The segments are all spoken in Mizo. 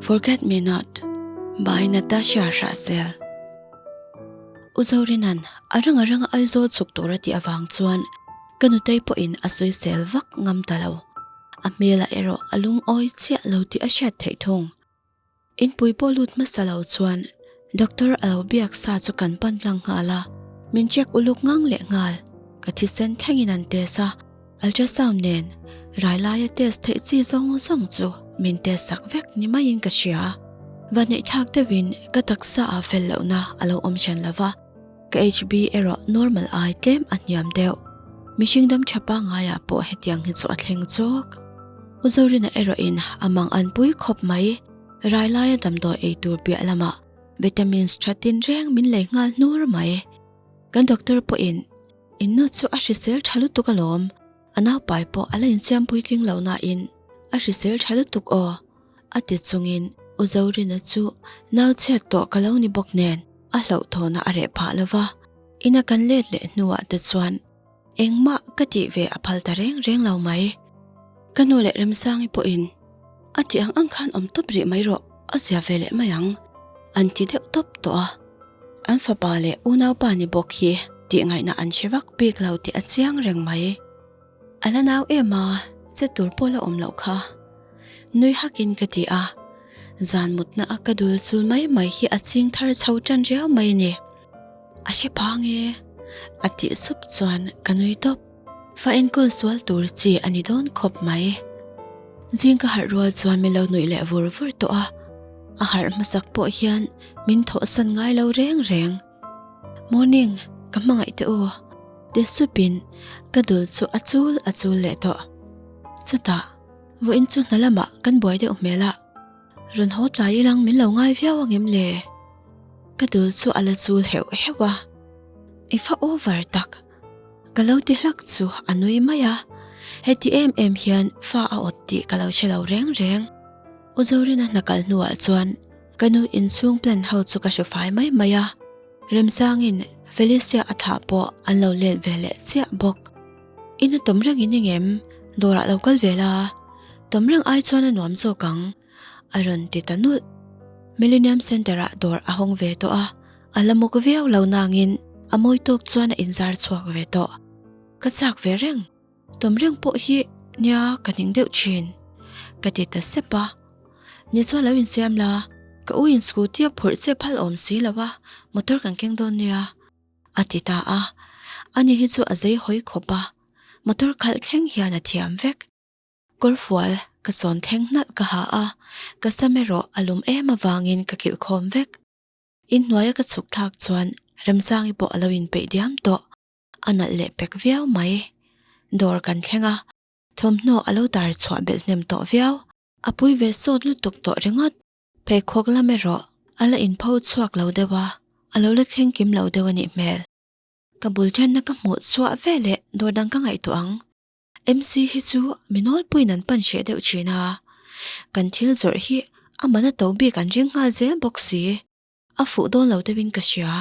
Forget me not by Natasha Hrahsel. U Zorina'n a rang a rang a Aizawl chhuk tur a tih avang chuan ka nutei pawhin a soisel vak ngam ta lo. A hmel ah erawh a lungawi chiah lo tih a hriat theih thung. In pui pawh lut hmasa lo chuan Doctor a lo biak sa chu kan pan tlang nghal a, min check uluk ngang leh nghal. Ka thi sen thlengin an test a, ultrasound nen rai laia test theih chi zawng zawng chu min test sak vek ni maiin ka hria a. Vahneih thlak deuhin ka taksa ah fel lohna a lo awm hran lova. Ka HB erawh normal ai tlem a hniam deuh. Mihring dam tha pa ngai ah pawh hetiang hi chu a thleng zawk. U Zorina erawh in a mang an pui khawp mai. Railai a damdawi ei tur piah lama vitamins tha tin reng min lei nghal hnur mai. Kan doctor pawh in in nu chu a hrisel tha lutuk alawm. A naupai pawh a la insiam puitling lohna in a hrisel tha lutuk aw. A ti chungin U Zorina chu, Nau chhiat tawh ka lo ni bawk nen a hloh thawn a a reh phah lo va. In a kan let leh hnuah te chuan engmah ka tih ve a phal ta reng reng lo mai. Ka nu leh Remsangi pawhin a tih ang ang khan awm tawp rih mai rawh a zia ve leh mai ang an ti deuh tawp tawh a. An fapa leh unaupa ni bawk hi tihngaihna an hre vak bik lo tih a chiang reng mai. A la nau em a, che tur pawh la awm loh kha. Nui hakin ka ti a, zan mutna a ka dul chu mai mai hi a ching thar chho tan riau mai ni. A hre phang e, a tih sup chuan ka nui tawp. Fa enkawl sual tur chi a ni dawn khawp mai. Zing ka harh rual chuan min lo nuih leh vur vur tawh a, a harh hmasak pawh hian min thawhsan ngai lo reng reng. Morning, ka hmangaih teh u. Ti sup in ka dul chu a chul a chul leh tawh. Chutah, vawh in chu hna lamah kan buai deuh hmel a. Rawn haw tlai i lang min lo ngai viau ang em le? Ka dul chu a la chul heuh heuh a. I fa over tak. Ka lo ti hlak chu a nui mai a. Heti em em hian fa a awt tih ka lo hre lo reng reng. U Zorina hna kal hnuah chuan. Ka nu inchhung plan ho chu ka hre fai mai mai a, Remsangin Felicia a thah pawh an lo let ve leh chiah bawk. In a tawm reng in eng em? Dawrah lo kal ve la, tawm reng ai chuan a nuam zawk ang, a rawn ti ta nulh. Millenium Centre-ah dawr a hawng ve tawh a, a la muk viau lo nangin a mawi tawk chuan a inzar chhuak ve tawh. Ka chak ve reng. Tum reng pawh hi nia ka hning deuh thin ka ti ta sep a, ni chu a lo insiam la, ka u in scooty a phurh che phal awm si lo a, motor kan keng dawn nia a ti ta a, a ni hi chu a zei hawi khawp a, motor khalh thleng hian a thiam vek. Kawr fual ka chawn thleng hnalh ka ha a, ka sam erawh a lum em avangin ka kilh khawm vek. Inhnuaia ka chhuk thlak chuan Remsangi pawh a lo inpeih diam tawh. a nalh leh pek viau mai dawr kan thleng a thawmhnaw a lo dar chhuah belh hnem tawh viau a pui ve sawt lutuk tawh ringawt pheikhawk lam erawh a la in pho chhuak lo deuh a a lo la thleng kim lo deuh a nih hmel ka bul tana ka hmuh chhuah ve leh dawr dang ka ngaihtuah ang MC hi chu mi nawl puiin an panhriah deuh thin a kan thil zawrh hi amahna to bik an ring nghal zel bawk si a fuh dawn lo deuhin ka hria.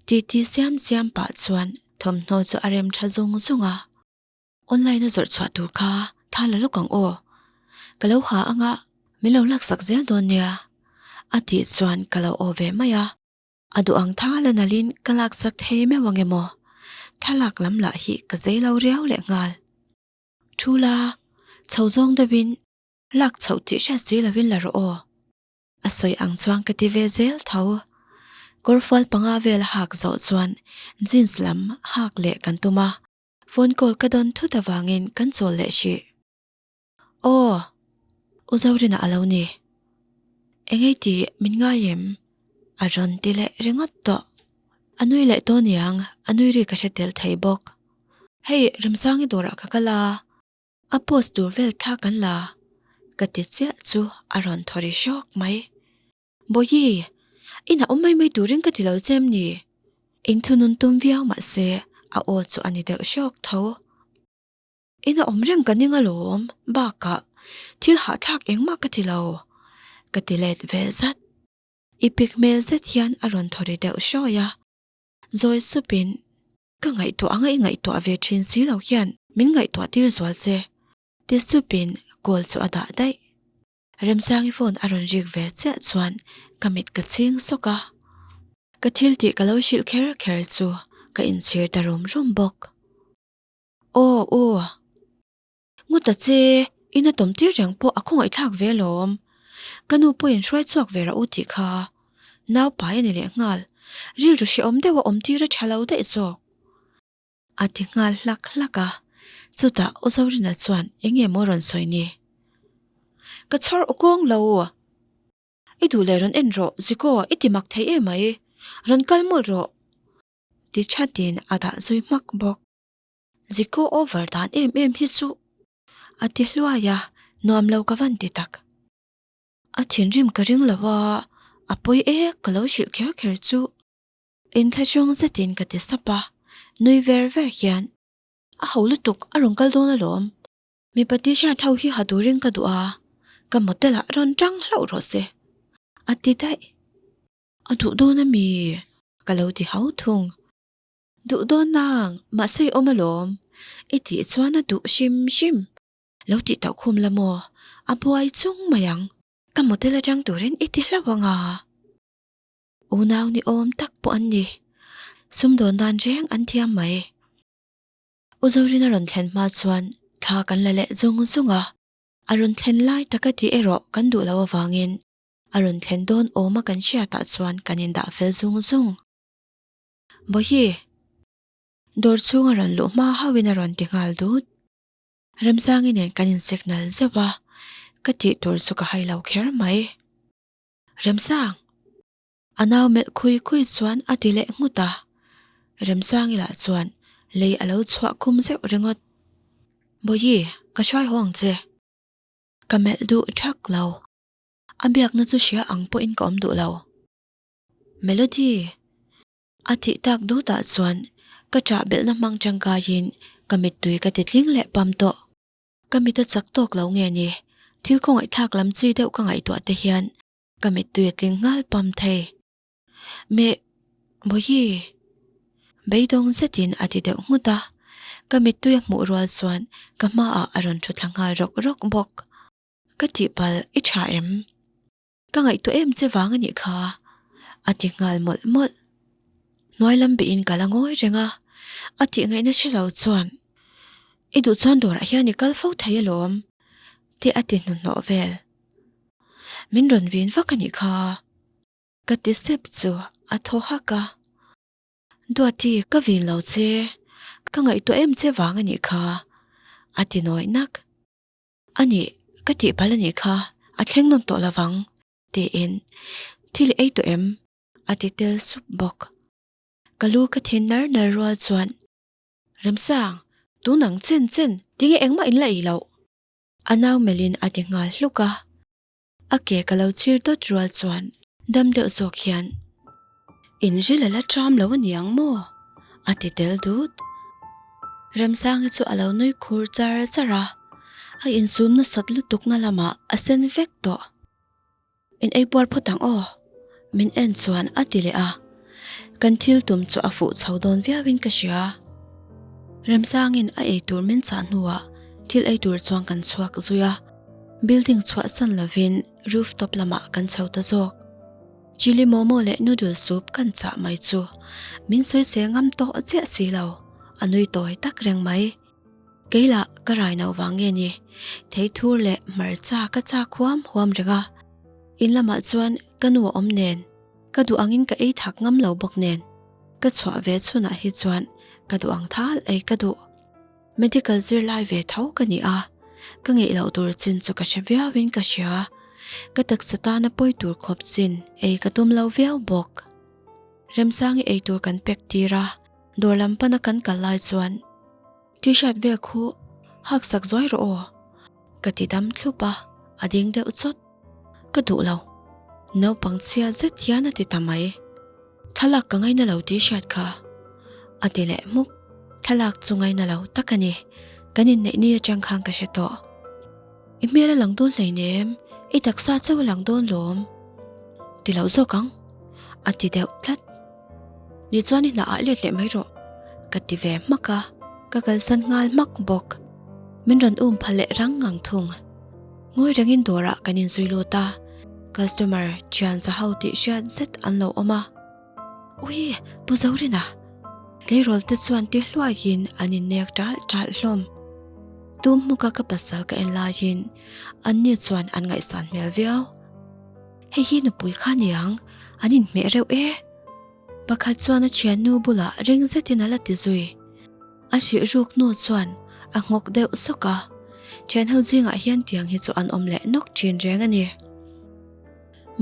Titi siam siam pah chuan thawmhnaw chu a rem tha zung zung a. Online a zawrh chhuah tur kha tha la lawk ang aw. Ka lo ha anga min lo laksak zel dawn nia a tih chuan ka lo aw ve mai a. A duh ang tha la nalhin ka laksak thei meuh ang em aw. Thlalak lam lah hi ka zei lo riau leh nghal. Thu la, chho zawng deuhin lak chhoh tih hriat si lovin la rawh aw. A sawi ang chuan ka ti ve zel tho. Kawrfual panga vel hak zawh chuan jeans lam hak leh kan tum a, phone call ka dawn thut avangin kan chawl leh hrih. Aw, U Zorina a lo ni. Engei tih min ngai em? A rawn ti leh ringawt tawh. A nui leh tawh niang, a nui ri ka hre tel thei bawk. Hei, Remsangi dawrah ka kal a. A post tur vel thla kan la ka ti chiah chu a rawn thaw ri hrawk mai. Bawihi, inah awm mai mai turin ka ti lo che em ni? In thunun tum viau mah se a aw chu a ni deuh hrawk tho. Inah awm reng ka ni ngalawm bakah thil hahthlak engmah ka ti lo ka ti let ve zat. I pik hmel zet hian a rawn thaw ri deuh hrawk a. Zawi supin Ka ngaihtuah anga i ngaihtuah ve thin si lo hian min ngaihtuah tir zual che, ti sup in call chu a dah daih. Remsangi phone a rawn rik ve chiah chuan ka mit ka ching sawk a. Ka thil tih ka lo hrilh kher kher chu ka inchhir ta rum rum bawk. Aw u. Ngawt a che, i na tawmtir reng pawh a khawngaihthlak ve alawm. Ka nu pawhin hruai chhuak ve rah u tih kha. Naupai a ni leh nghal. Rilru hrehawm deuh a awmtir a tha lo daih zawk. A ti nghal hlak hlak a. Chutah aw Zorina chuan, Eng nge maw rawn sawi ni? Ka chhawr u kawng lo. I duh leh rawn en rawh, Ziko, i ti mak thei e mai. Rawn kal mul rawh. Ti thatin a dah zui hmak bawk. Zi ko over dan em em hi chu. A ti hluai a, nuam lo ka van ti tak. A thinrim ka ring lo a, a pawi e ka lo hrilh kher kher chu. In thlachawng zet in ka ti sap a, nui ver ver hian. A ho lutuk, a rawn kal dawn a lawm. Mipa t-shirt ho hi ha turin ka duh a, ka motel ah rawn tang hlauh rawh se. A ti daih. A duh dawn a mi? Ka lo ti hau thung. Duh dawnna ang, mahse i awm alawm, i tih chuan a duh hrim hrim. Lo tih tauh khum la maw? A buai chung mai ang. Ka motel atang turin i ti hlauh ang a. Unau ni awm tak pawh an ni. Sumdawn dan reng an thiam mai. U Zorina rawn thlen hma chuan thla kan la leh zung zung a. A rawn thlen lai tak a tih erawh kan duh loh avangin a rawn thlen dawn awma kan hriatah chuan kan indah fel zung zung. Mawhi! Dawr chhunga rawn luh hma hauhin a rawn ti nghal dut. Remzangi nen kan insek nal zeuh a, ka tih tur chu ka hai lo kher mai. Remzang! A nau melh khui khui chuan a ti leh nghut a. Remzangi lah chuan lei a lo chhuah khum zeuh ringawt. Mawhi! Ka hrai haw ang che. Ka melh duh thak lo. A biakna chu hria ang pawhin ka awm duh lo. Melody! A tih tak dûtah chuan ka chah belhna hmang tangkaiin ka mittui ka ti tling leh pam tawh. Ka mit a chak tawk lo nge ni? Thil khawngaihthlak lam chi deuh ka ngaihtuah te hian ka mittui a tling nghal pam thei. Me Bawihi! Beidawng zetin a ti deuh nghut a. Ka mittui a hmuh rual chuan ka hmaah a rawn ṭhu thla nghal rawk rawk bawk. Ka tihpal i ṭha em? Ka ngaihtuah em che vang a nih kha, a ti nghal mawlh mawlh. Hnuai lam bihin ka la ngawi reng a, a tih ngaih nasa lo chuan, I duh chuan dawrah hian i kal fo thei alawm, tih a ti hnuhnawh vel. Min rawn vin vak a nih kha, ka ti sep chu a thaw hak a. Duati, ka vin lo che, ka ngaihtuah em che vang a nih kha, a ti nawi nak. A nih, ka tih pal a nih kha, a thleng nawn tawh lovang, tiin, Thil ei tawh em? a ti tel sup bawk. Ka lu ka thin nar nar rual chuan, Remsang, tun ang chen chen, tinge engmah in la ei loh? A nau melhin a ti nghal hluk a, A ke ka lo chhir dawt rual chuan dam deuh zawk hian, In ril a la ṭam lo a niang maw? a ti tel dut. Remsangi chu a lo nui khur char char a, a insum nasat lutuk na lamah a sen vek tawh. In ei buar phawt ang aw. Min en chuan a ti leh a, kan thil tum chu a fuh chho dawn viauin ka hria. Remzangin a ei tur min chah hnuah thil ei tur chuan kan chhuak zui a, building chhuahsan lovin roof top lamah kan chho ta zawk. Chilli momo leh noodle soup kan chah mai chu min sawi seh ngam tawh chiah si lo, a nui tawi tak reng mai. Kei lah ka rai no vang nge ni? Thei thur leh hmarcha ka chak huam huam reng a. In lamah chuan ka nu a awm nen, ka duh angin ka ei thak ngam lo bawk nen, ka chhuah ve chhunah hi chuan ka duh ang thal ei ka duh. Medical zirlai ve tho ka ni a, ka ngeih loh tur chin chu ka hre viauin ka hria. Ka taksa tana pawi tur khawp chin ei ka tum lo viau bawk. Remsang i ei tur kan pek tir a. Dawr lam pan a kan kal lai chuan. T-shirt vel khu hak sak zuai rawh aw, ka ti dam thlup a, a ding deuh chawt. Ka duh lo. Naupang chhial zet hian a ti ta mai. Thlalak ka ngaina lo T-shirt kha, a ti leh hmuk. Thlalak chu ngaina lo tak a ni, kan inneih ni atang khan ka hre tawh. I hmel a lang dawn hlein em? I taksa chauh a lang dawn lawm? Ti loh zawk ang, a ti deuh tlat. Ni chuan i hnaah let leh mai rawh ka ti ve hmak a, ka kalsan nghal hmak bawk. Min rawn um pha leh rang ang thung. Ngawi rengin dawrah kan in zui lut a, customer thian za ho tih hriat zet an lo awm a. Ui, Pu Zorina! Tleirawl te chuan ti hluaiin an in nek tal tal hlawm. Tum hmuka ka pasal ka en laiin anni chuan an ngaihsan hmel viau. Hei hi nupui kha ni ang, an inhmeh reuh e. Pakhat chuan a thiannu bulah ring zetin a la ti zui. A hrih ruk hnu chuan a nghawk deuh sawk a, thianho zingah hian tiang hi chu an awm leh nawk thin reng a ni.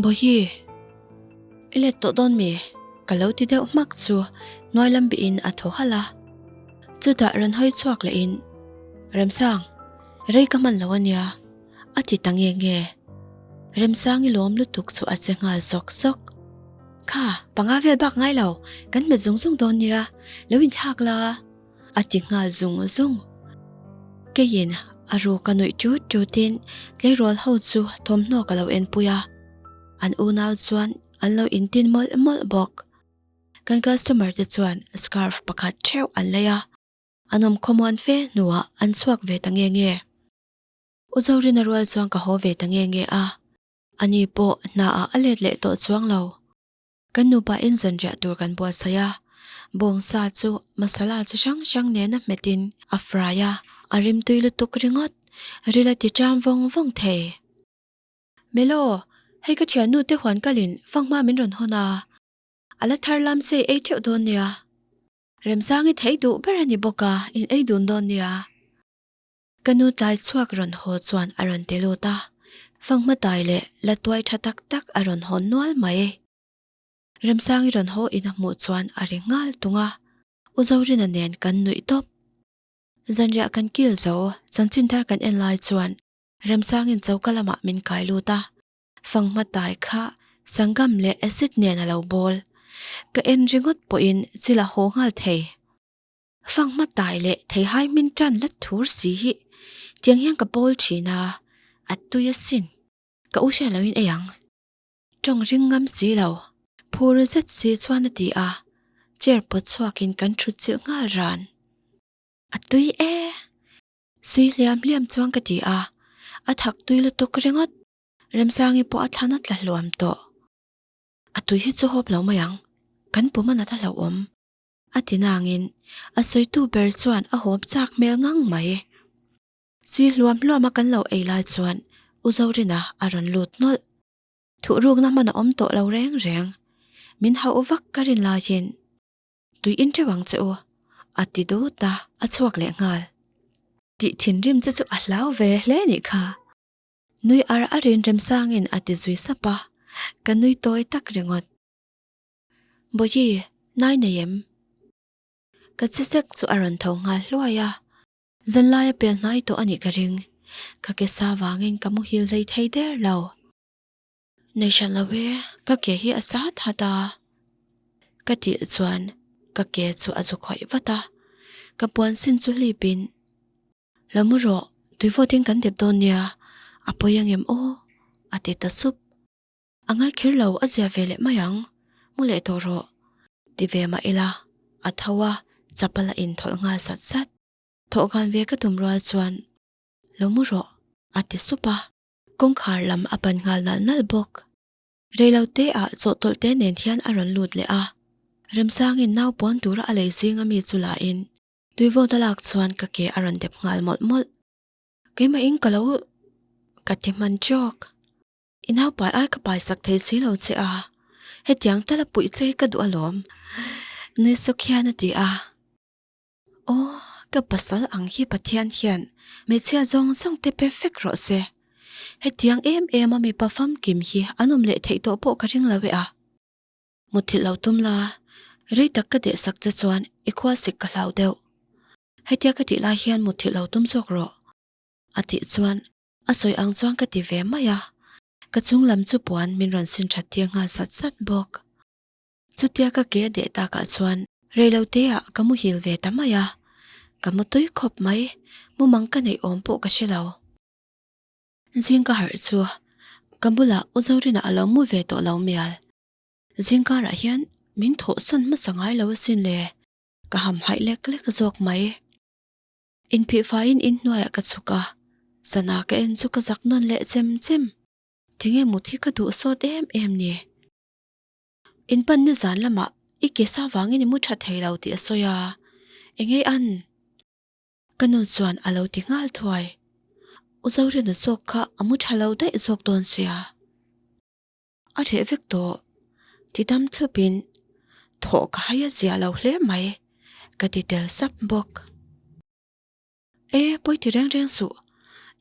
Bawihi, i let tawh dawn mi? Ka lo ti deuh hmak chu hnuai lam bihin a thaw halh a. Chutah rawn hawi chhuak lehin, Remsang, rei ka hman lo a nia. a ti ta nge nge. Remsangi lawm lutuk chu a che nghal zawk zawk. Kha, panga vel bak ngai lo, kan hmet zung zung dawn nia, lo inthlak la, a ti nghal zung zung. Keiin a ruk a nuih ṭut ṭutin tleirawl ho chu thawmhnaw ka lo en pui a, an unau chuan an lo intin mawlh mawlh bawk. Kan customer te chuan scarf pakhat ṭheuh an lei a, an awm khawmuan fe hnuah an chhuak ve ta nge nge. U Zorina rual chuan ka haw ve ta nge nge a, ani pawh hna ah a let leh tawh chuang lo. Kan nupa in zanriah tur kan buatsaih a, bawng sa chu masala chi hrang hrang nena hmet in a fry a, a rimtui lutuk ringawt, ril a ti ṭam vawng vawng thei. Melo, hei ka ṭhiannu te huan kal in fang hma min rawn hawn a, a la thar lam se ei ṭeuh dawn nia, remzang i thei duh ber a ni bawk a, in ei dun dawn nia. Ka nu tlai chhuak rawn haw chuan a rawn ti lut a, Fa Hmatai leh la tuai tha tak tak a rawn haw nual mai e. Remsangi rawn haw in a hmuh chuan a ri nghal tung a, U Zorina nen kan nuih tawp. Zanriah kan kil zo, chanchin thar kan en lai chuan Remsangin choka lamah min kai lut a, Fa Hmatai kha sangam leh acid nen a lo bawl. Ka en ringawt pawhin chil a haw nghal thei. Fang hma tai leh thei hai min tan la thur si hi tiang hian ka pawl thin a, a tui a sin. Ka u hriat lohin ei ang. Tawng ring ngam si lo. Phur zet si chuan a ti a, chair pawt chhuakin kan thut chilh nghal ran. A tui e. Si hliam hliam chuan ka ti a, a thak tui lutuk ringawt. Remsangi pawh a thlan a tla hluam tawh. A tui hi chu hawp lo mai ang, kan pum a nat a hlauhawm. A tinangin a sawitu ber chuan a hawm chak hmel ngang mai. Chi hluam hluama kan lo ei lai chuan U Zorina a rawn lut hnawlh. Thuh rukna hman a awm tawh lo reng reng. Min hauh vak ka rin laiin tui in teuh ang che u, a ti dut a, a chhuak leh nghal. Tih thinrim che chu a hlau ve hle a nih kha. Nui ar a rinrem sangin a ti zui sap a, ka nui tawi tak ringawt. Bawihi, nai nei em? Ka che sek chu a rawn tho nghal hluai a. Zanlaia pel hnai tawh a nih ka ring. Ka ke sa vangin ka muhil hlei thei der lo. Nei hran lo e, ka ke hi a sa that a. Ka tih chuan ka ke chu a zu khawih vat a. Ka puan sin chu hlip in, Lo mu rawh, tuivawitin kan dep dawn nia, a pawi ang em aw? a ti ta sup. A ngaihkhir lo, a ziah ve leh mai ang, mu leh tawh rawh, ti ve mah ila a tho a, chapal a inthawlh nghal sat sat. Thawh gan ve ka tum rual chuan lo mu rawh, a ti sup a. Kawngkhar lam a pan nghal nalh nalh bawk. Reilo te ah chawh tawlh te nen hian a rawn lut leh a, Remsangin nau pawn tura a lei zing ami chu la in tuivawt a lak chuan ka ke a rawn dep nghal mawlh mawlh. Keimah in ka lo ka ti hman trawk. I naupai ai ka pai sak thei si lo che a, hetiang tala puih che ka duh alawm. Nuisuk hian a ti a. Aw, ka pasal ang hi Pathian hian hmeichhia zawng zawng te pe fek rawh se. Hetiang em em a mipa famkim hi an awm leh theih tawh pawh ka ring lo e a. Mutthilh lo tum la, rei tak ka deh sak che chuan i khua sik ka hlau deuh. Hetia ka tih lai hian mutthilh lo tum zawk rawh, a tih chuan A sawi ang chuan ka ti ve mai a, ka chung lam chu puan min rawn sin that thiam nghal sat sat bawk. Chutia ka ke a deh tak ah chuan reilo te ah ka muhil ve ta mai a, ka mu tui khawp mai, mumang ka neih awm pawh ka hre lo. Zingkar chu ka bula u Zorina a lo mu ve tawh lo mial, zingkar ah hian min thawh san hmasa ngai lo asin le, ka hamhaih lek lek zawk mai. In phih fai in in hnuaiah ka chhuk a, sana ka en chu ka zak nawn leh chem chem. Tinge mut hi ka duh sawt em em ni? In pan ni zan lamah i ke sa vangin i mu tha thei lo tih a sawi a, enge an? Ka nu chuan a lo ti nghal thuai. U Zohrena zawk kha a mu tha lo daih zawk dawn sia. A reh vek tawh, ti dam thlupin thawh ka hai a ziah loh hle mai ka ti tel sap bawk. E Pawithi reng reng suh,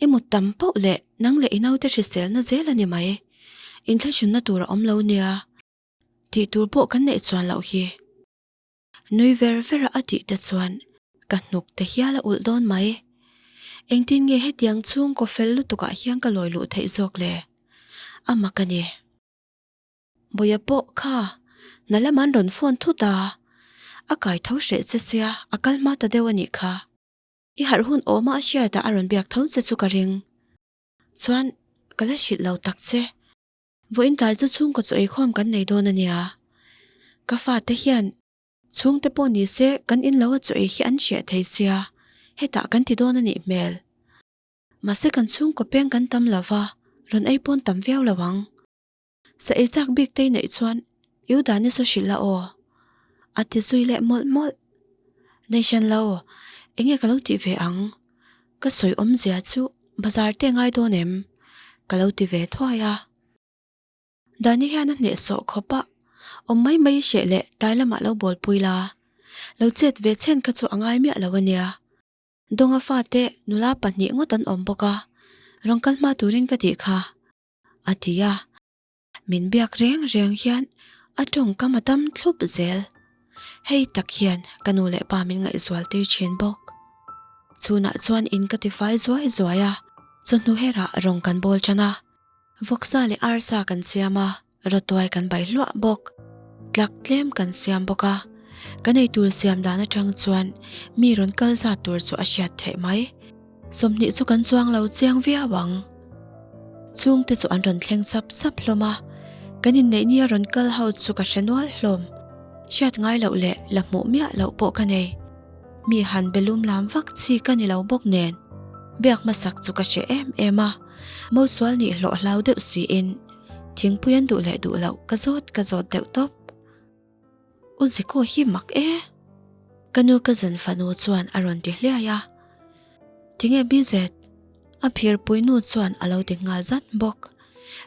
i mut tam poh leh nang leh i naute hriselna zel a ni mai, inthlaihhrinna tur a awm lo nia, tih tur pawh kan neih chuan loh hi. Nui ver ver a a tih te chuan ka hnuk te hial a ulh dawn mai. Engtin nge hetiang chhung kaw fel lutukah hian ka lawi luh theih zawk le? A mak a ni. Buia pawh kha hna lam an rawn phone thut a, a kai tho hreh che sia, a kal hma ta deuh a nih kha. I harh hun awma a hriat ah a rawn biak tho che chu ka ring. Chuan ka la hrilh lo tak che. Vawiin tlai chu chhungkaw chu eikhawm kan nei dawn a nia. Ka fate hian. Chhungte pawh ni se kan in lo a chaw ei hi an hriah thei sia hetah kan ti dawn a nih hmel. Mahse kan chhungkaw peng kan tam lo va, rawn ei pawn tam viau lo ang. Sa ei chak bik te i neih chuan iu dan i saw hrilh la aw. A ti zui leh mawlh mawlh. Nei hran lo, enge ka lo tih ve ang. Ka sawi awmzia chu bazar te ngai dawn em? Ka lo ti ve thuai a. Dani hian a hneh sawh khawp a, awm mai mai i hreh le, tai lamah lo bawlpui la, lo chet ve chhen kha chu a ngai miah lo a nia. Dawnga fate nula pahnih ngawt an awm bawk a, rawn kal hma turin ka tih kha, a ti a. min biak reng reng hian a tawngkam a tam thlup zel. Hei tak hian ka nu leh pa min ngaihzual tir thin bawk. Chhunah chuan in ka tifai zuai zuai a, chawhnu herah rawng kan bawl tan a, vawksa leh arsa kan siam a, rawtuai kan bai hluah bawk, tlak tlem kan siam bawk a. Ka nei tur siam dan atang chuan mi rawn kal zat tur chu a hriat theih mai. Sawmhnih chu kan chuang lo chiang viau ang. Chungte chu an rawn thleng sap sap hlawm a, kan inneih nia rawn kal ho chu ka hre nual hlawm. Hriat ngai loh leh la hmuh miah loh pawh ka nei. Mi han be lum lam vak chi ka ni lo bawk nen, biak hmasak chu ka hre em em a. Mosual nih hlawh hlau deuh siin thingpuiin duh leh duh loh ka zawt ka zawt deuh tawp. U Ziko hi mak e, ka nu ka zan fanu chuan a rawn ti hliai a. Tinge bizet, a phir pui nu chuan a lo ti nghal zat bawk.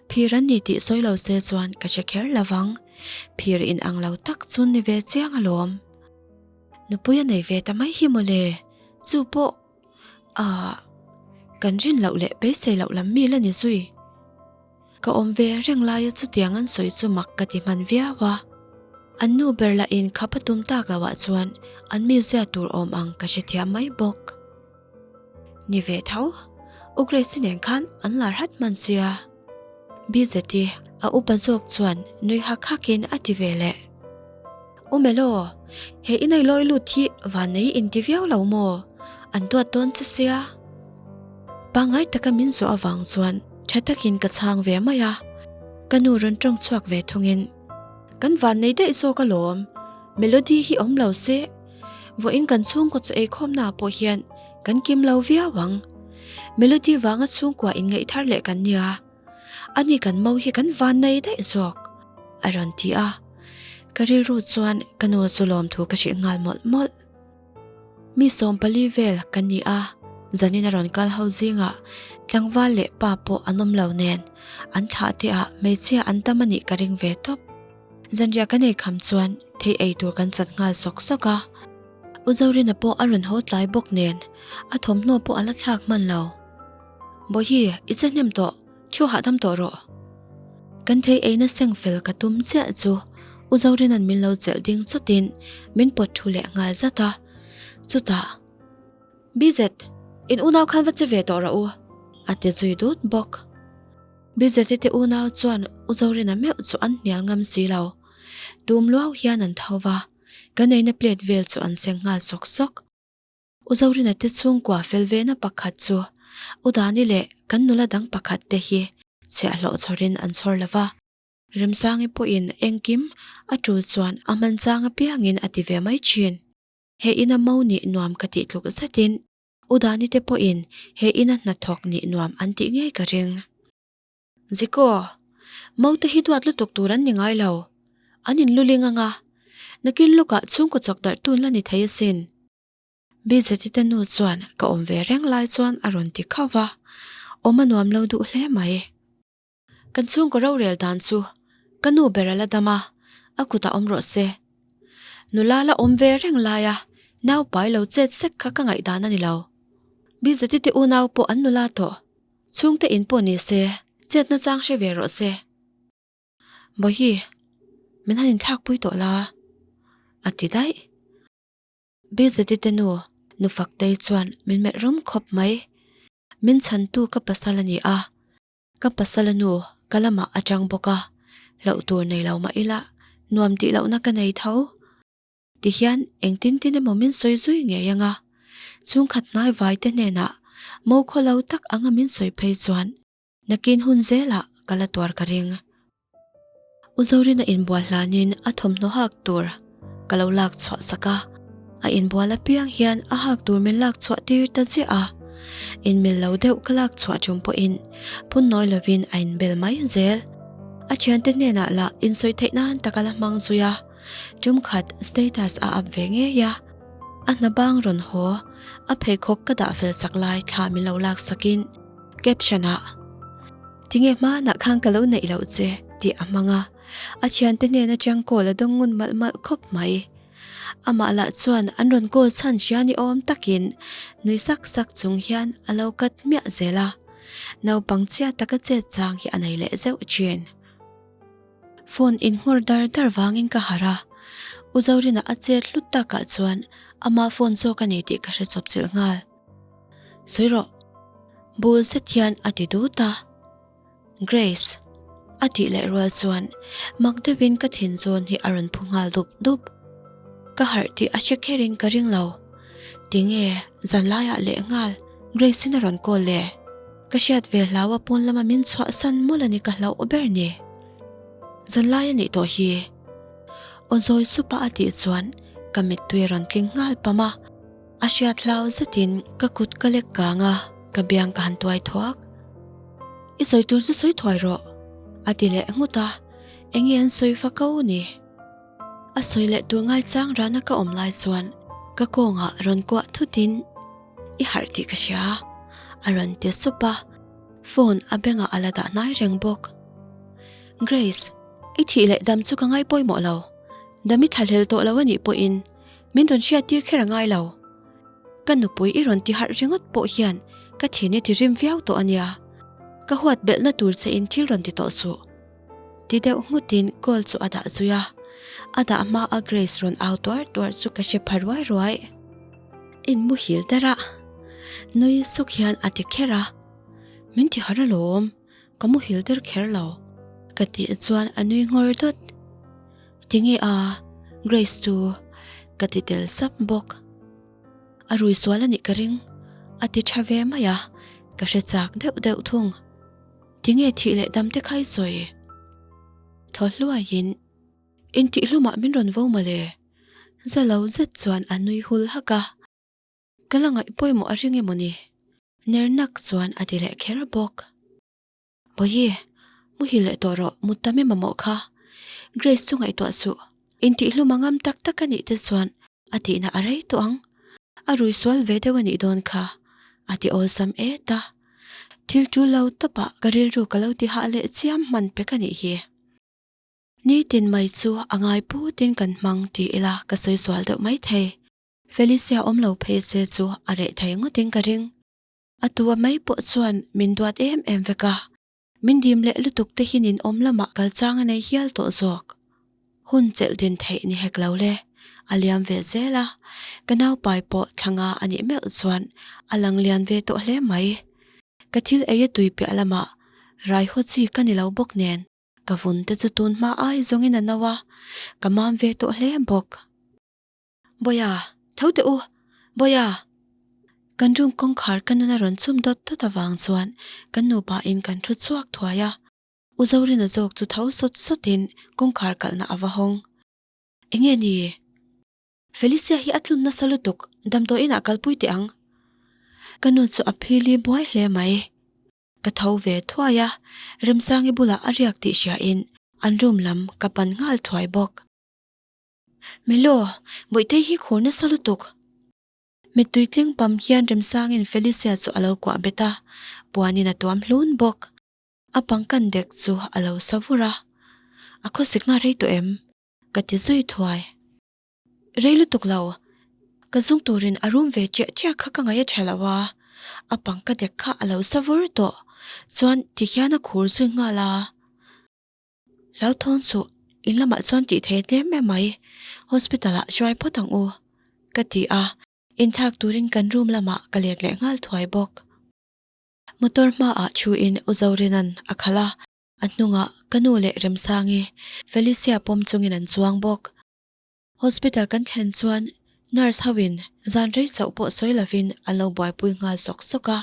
Phir an ni tih sawi lo se chuan ka hre kher lo vang, phir in ang lo tak chu ni ve chiang alawm. Nupui a nei ve ta mai hi mawle, chu pawh Aah, kan rin loh leh beisei loh lam mi la ni zui. Ka awm ve reng laia chutiang an sawi chu mak ka ti hman viau a. An nu ber lah in khap a tum tak loh ah chuan an mi zia tur awm ang ka hrethiam mai bawk. Ni ve tho, U Grace-i nen khan an lar hat hman sia. Bz-i a upa zawk chuan nui hak hak in a ti ve leh. Aw mel aw, he inailawi lut hi vannei inti viau lo maw? An duat dawn che sia. Pangngai taka min zawh avang chuan tha takin ka chhang ve mai a, ka nu rawn tawng chhuak ve thungin. Kan vannei daih zawk alawm, Melody hi awm lo se, vawiin kan chhungkaw chu eikhawmnaah pawh hian kan kim lo viau ang. Melody vanga chhungkua inngaih thar leh kan nia, Ani kan mo hi kan van nei daih zawk, a rawn ti a. Ka rilru chuan ka nu chu lawm thu ka hrih nghal mawlh mawlh. Mi sawm pali vel ka ni a, zanin a rawn kal ho zingah tlangval leh pa pawh an awm lo nen, an thlah te ah hmeichhia an tam anih ka ring ve tawp. Zanriah ka nei kham chuan thei ei tur kan chat nghal sawk sawk a. U Zorina pawh a rawn haw tlai bawk nen, a thawmhnaw pawh a la thlak hman lo. Bawihi, i che hnem tawh, thu hahdam tawh rawh. Kan thei eina seng fel ka tum chiah chu U Zorena'n min lo chelh ding chatin min pawt thu leh nghal zat a. Chutah, Bizet, in unau khan va che ve tawh rawh u, a ti zui dut bawk. Bizete te unau chuan U Zorena meuh chu an hnial ngam si lo. Tum luau hian an tho va, kan eina plate vel chu an seng nghal sawk sawk. U Zorina te chhungkua fel vena pakhat chu U Dani leh kan nula dang pakhat te hi chhiah hlawh chhawrin an chhawr lova. Remsangi pawhin engkim a tul chuan a hman chang apiangin a ti ve mai thin. He ina mo nih nuam ka tih tluk zetin U Dani te pawhin he ina hnathawk nih nuam an tih ngei ka ring. Ziko, mo te hi duat lutuk tur an ni ngai lo. An in luling anga. Nakin lawkah chhungkaw chawk darh tun la ni thei asin. Bijatita nu chuan ka awm ve reng lai chuan a rawn ti khauh a, Awm a nuam lo duh hle mai. Kan chhungkaw rorel dan chu ka nu ber a la dam a, A kutah awm rawh se. Nula la awm ve reng laia naupai lo chet sek kha ka ngaih dan a ni lo. Bijatite unau pawh an nula tawh, chhungte in pawh ni se, chetna chang hre ve rawh se. Bawihi, min han inthlakpui tawh la a ti daih. Bijati te nu, nu faktei chuan min melh rum khawp mai. Min chhantu ka pasal a ni a, ka pasala nu ka lamah a chang bawk a, hlauh tur nei lo mah ila, nuam tih lohna ka nei tho ti hian engtin tin emaw min sawi zui ngei ang a. Chhungkhat hnai vaite hnenah mo khaw lo tak anga min sawi phei chuan, Nakin hun zelah ka la tuar ka ring. U Zorina inbual hlanin a thawmhnaw hak tur ka lo lak chhuah sak a, a inbual apiang hian a hak tur min lak chhuah tir ta ziah a, in mil lo deuh ka lak chhuah ṭum pawhin phun nawi lovin a inbel mai zel. A ṭhiante hnenah lah insawi theih nan tak a la hmang zui a, ṭum khat status a up ve ngei a, a hna bang rawn haw a pheikhawk ka dah fel sak lai thla min lo lak sakin, Caption ah, Tinge hmanah khan ka lo neih loh che tih a hmang a, a thiante nen atang call a dawng ngun malh malh khawp mai. Amah lah chuan an rawn call chhan hria ni awm takin nui sak sak chung hian a lo cut miah zel a, naupang chiah taka chet chang hi a nei leh zeuh chin. Phone in nghawr dar dar vangin ka harh a, U Zorinah a chet hlut takah chuan amah phone zawk a ni tih ka hre chawp chilh nghal. Sawi rawh. Bul set hian a ti dut a. Grace, a tih leh rual chuan mak deuhin ka thinzawn hi a rawn phu nghal dup dup. Ka harh tih a hre kherin ka ring lo. Tinge zanlaiah leh nghal Grace-in a rawn call e? Ka hriat ve hlau a pawn lama min chhuah san mul a ni ka hlauh ber ni. Zanlai a nih tawh hi. Aw zawi sup a a tih chuan ka mittui a rawn tling nghal pam a. A hriat hlau zetin ka kut ka lek kang a, ka biang ka han tuai thuak. I sawi tur chu sawi thuai rawh, a ti leh nghut a, eng nge an sawi fa ko ni? A sawi leh tur ngai chang rana ka awm lai chuan ka kawngah rawn kuah thutin i harh tih ka hria a rawn ti sup a, phone a bengah a la dah hnai reng bawk. Grace, i thih leh dam chu ka ngai pawimawh lo, dam i thlahlel tawh lo anih pawhin, Min rawn hriat tir kher a ngai lo. Ka nupui i rawn ti harh ringawt pawh hian ka thian i ti rim viau tawh a nia. Ka huat belhna tur che in thil rawn ti tawh suh. Ti deuh nghut in call chu a dah zui a. A dah hma a Grace rawn au tuar tuar chu ka hre pha ruai ruai. In muhil der a. Nui suk hian a ti kher a. Min ti harh alawm. ka mu hil tir kher lo. Ka tih chuan a nui ngawr dawt. Tinge a, Grace chu ka ti tel sap bawk. A ruihsual a nih ka ring, a ti tha ve mai a, ka hre chak deuh deuh thung. Tinge thih leh dam te khai sawi? Thaw hluaiin, Intih hlumah min rawn vo mawle. Zalo zet chuan a nui hul hak a. Ka la ngaih pawimawh a ring emaw ni? Nernak chuan a ti leh kher bawk. Bawiye, muhil leh tawh rawh, mut ta mema mawh kha. Grace chu ngaihtuah suh, intihhlum a ngam tak tak a nih te chuan a tihna a rei tawh ang. A ruihsual ve deuh a nih dawn kha, a ti awlsam e ta. Thil tul lo tawpah ka rilru ka lo ti hah leh chiam hman pek a nih hi. Nitin mai chu a ngai putin kan hmang ti ila ka sawi sual deuh mai thei. Felicia awm lo phei se chu a reh thei ngawtin ka ring. A tua mai pawh chuan min duat em em vek a, min dim leh lutuk te hian in awm lamah kal chang a nei hial tawh zawk. Hun chelh din theih ni hek lo le, a liam ve zel a, ka naupai pawh thlanga a nih meuh chuan a lang lian ve tawh hle mai. Ka thil ei a tui piah lamah Raiho chi ka ni lo bawk nen, ka vun te chu tun hma ai zawngin a no a, ka mam ve tawh hle bawk. Bawia, tho teh u! Bawia! Kan room kawngkhar ka nuna rawn chhum dawt dawt avang chuan ka nupa in kan thu chhuak thuai a. U Zorina zawk chu tho sawt sawt in kawngkhar kalhna ava hawng. Enge ni? Felicia hi a tlun nasa lutuk, damdawi inah kal pui teh ang. Ka nu chu a phil i buai hle mai. Ka tho ve thuai a, remsangi bulah a riak tih hria in an room lam ka pan nghal thuai bawk. Melo, Bawihthei hi khur nasa lutuk. Mittui tling pam hian Remsangin Felicia chu a lo kuah bet a, puanin a tuam hlun bawk. A pangkan dek chu a lo sa vur a. A khawsik nghal rei tawh em? ka ti zui thuai. Rei lutuk lo. Ka zung turin a rum ve chiah chiah kha ka ngaih a tha lo a, a pangka dek kha a lo sa vur tawh. Chuan ti hian a khur zui nghal a. Hlauhthawn suh, in lamah chuan tih thei hle em mai, hospital ah hruai phawt ang u, ka ti a, inthak turin kan room lamah ka let leh nghal thuai bawk. Motor hma ah thu in u Zorena'n a khal a, a hnungah ka nu leh Remsangi, Felicia pawm chungin an chuang bawk. Hospital kan thlen chuan nurse ho in zan rei chauh pawh sawi lovin an lo buaipui nghal sawk sawk a.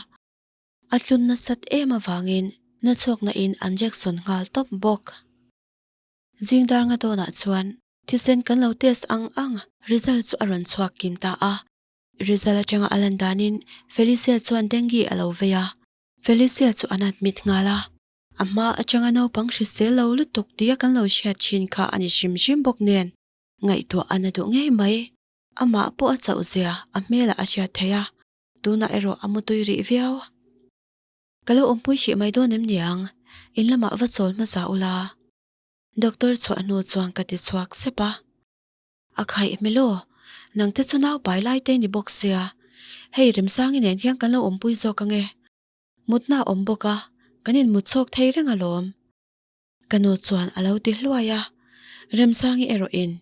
A tlun nasat em avangin hnuchhawkna in an reaction nghal tawp bawk. Zing dar nga dawnah chuan thisen kan lo test ang ang, result chu a rawn chhuak kim ta a. Result atanga a lan danin Felicia chuan dengue a lo vei a. Felicia chu an admit nghal a. A hma atanga naupang hrisel lo lutuk tia kan lo hriat thin kha a ni hrim hrim bawk nen ngaihtuah a na duh ngei mai. Amah pawh a chauh zia a hmelah a hriat theih a. Tunah erawh a mutui rih viau. Ka lo awmpui hrih mai dawn em niang? In lamah va chawl hmasa u la. Doctor chhuah hnu chuan ka ti chhuak sep a. A khaih hme law. Nangte chu naupai lai te ni bawk sia. Hei Remsangi nen hian kan lo awmpui zawk ange. Mutna awm bawk a, kan inmut chhawk thei reng alawm. Ka nu chuan a lo ti hluai a. Remsangi erawh in.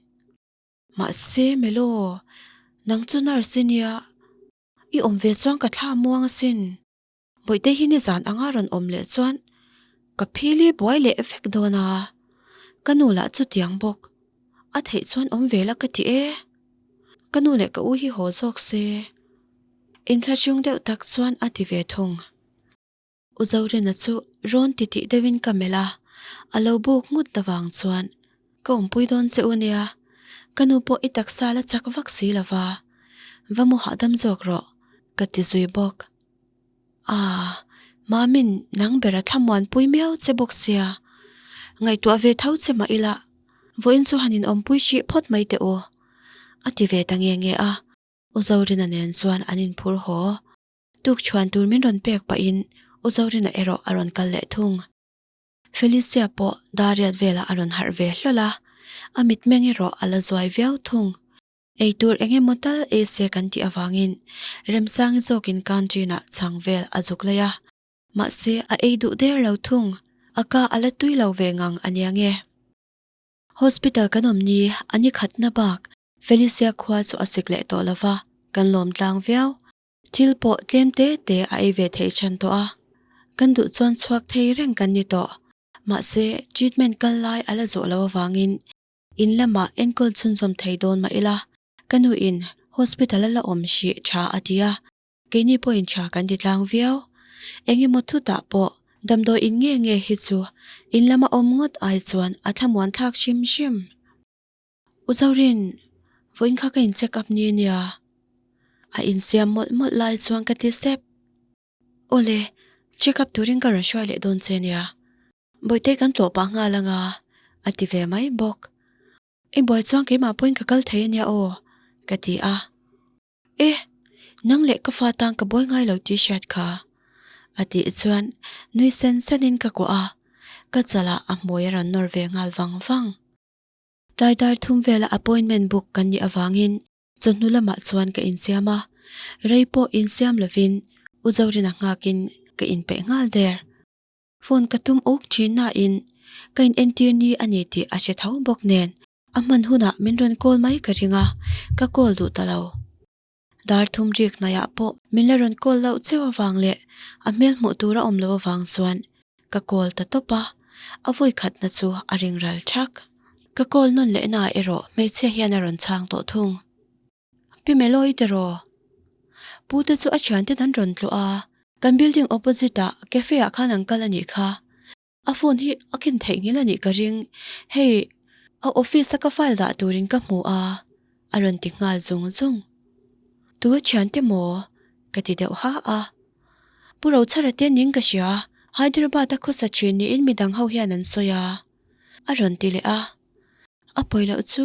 Mahse, Melo, nang chu nurse nia, i awm ve chuan ka thla muang asin. Bawihte hi nizan anga rawn awm leh chuan ka phil hi buai leh vek dawn a, ka nu lah chutiang bawk a theih chuan awm ve la ka ti e. Ka nu leh ka u hi haw zawk se, in thlachiung deuh tak chuan a ti ve thung. U Zorena chu rawn ti tih deuhin ka melh a, a lo buk nghut lovang chuan, Ka awmpui dawn che u nia, ka nu pawh i taksa la chak vak si lova, va mu hahdam zawk rawh, ka ti zui bawk. Aaa, Mamin nang ber a thlamuan pui miau che bawk sia, ngaihtuah ve tho che mah ila, vawiin chu han inawmpui hrih phawt mai teh u, a ti ve ta nge nge a. U Zorena nen chuan an inphur haw. Tukchhuan tur min rawn pek pahin U Zorina erawh a rawn kal leh thung. Felicia pawh Dariat velah a rawn harh ve hlawl a, a mitmeng erawh a la zuai viau thung. Eitur eng emaw tal Asia kan tih avangin remsangi zawkin canteen-ah chhang vel a zuk lei a, mahse a ei duh der lo thung. A ka a la tui lo ve ngang ania nge? Hospital kan awm ni a nikhatna bak Felicia khua chu a sik leh tawh lova kan lawmtlang viau. Thil pawh tlem te te a ei ve theih chhan tawh a, kan duh chuan chhuak thei reng kan ni tawh. Mahse, treatment kal lai a la zawh lo avangin in lamah enkawl chhunzawm thei dawn mah ila, ka nu in hospital a la awm hrih tha a ti a, keini pawh in tha kan ti tlang viau. Eng emaw chutah pawh damdawi in nge nge hi chu in lam a awm ngawt ai chuan a thlamuan thlak hrim hrim. U Zorin, vawiin kha ka in check up ni ania, a in siam mawlh mawlh lai chuan ka ti sep. Awle, check up turin ka rawn hruai leh dawn che nia, Bawihtei kan tlawh pah nghal anga, a ti ve mai bawk. I buai chuan keimah pawhin ka kal thei ania aw, ka ti a. E, nang leh ka fa tan ka buai ngai lo tih hriat kha, a tih chuan nui sen senin ka kuah a, ka chalah a hmui a rawn nawr ve nghal vang vang. Tlai dar thum vela appointment book kan nih avangin chawhnu lamah chuan ka insiam a, rei pawh insiam lovin U Zorina nghakin ka inpeih nghal der. Phone ka tum uk thin nain ka in entir ni a ni tih a hre tho bawk nen a hman hunah min rawn call mai ka ring a, ka call duh ta lo. Dar thum rik hnaiah pawh min la rawn call loh cheu avang leh a hmel hmuh tur a awm lo avang chuan ka call ta tawp a, a vui khatna chu a ring ral thak. Ka call nawn leh naah erawh hmeichhia hian a rawn chhang tawh thung. Pi Melo i tiraw? Pu te chu a thianten an rawn tlu a, kan building opposite ah cafe ah khan an kal a nih kha. A phone hi a ken theih nghil a nih ka ring. Hei, a office a ka file dah turin ka hmu a, a rawn ti nghal zung zung. Tu a thian te maw? Ka ti deuh hah a. Pu Rochhara te ning ka hria, Hyderabad a khawsa thin niin midang ho hian an sawi a, a rawn ti leh a. A pawi loh chu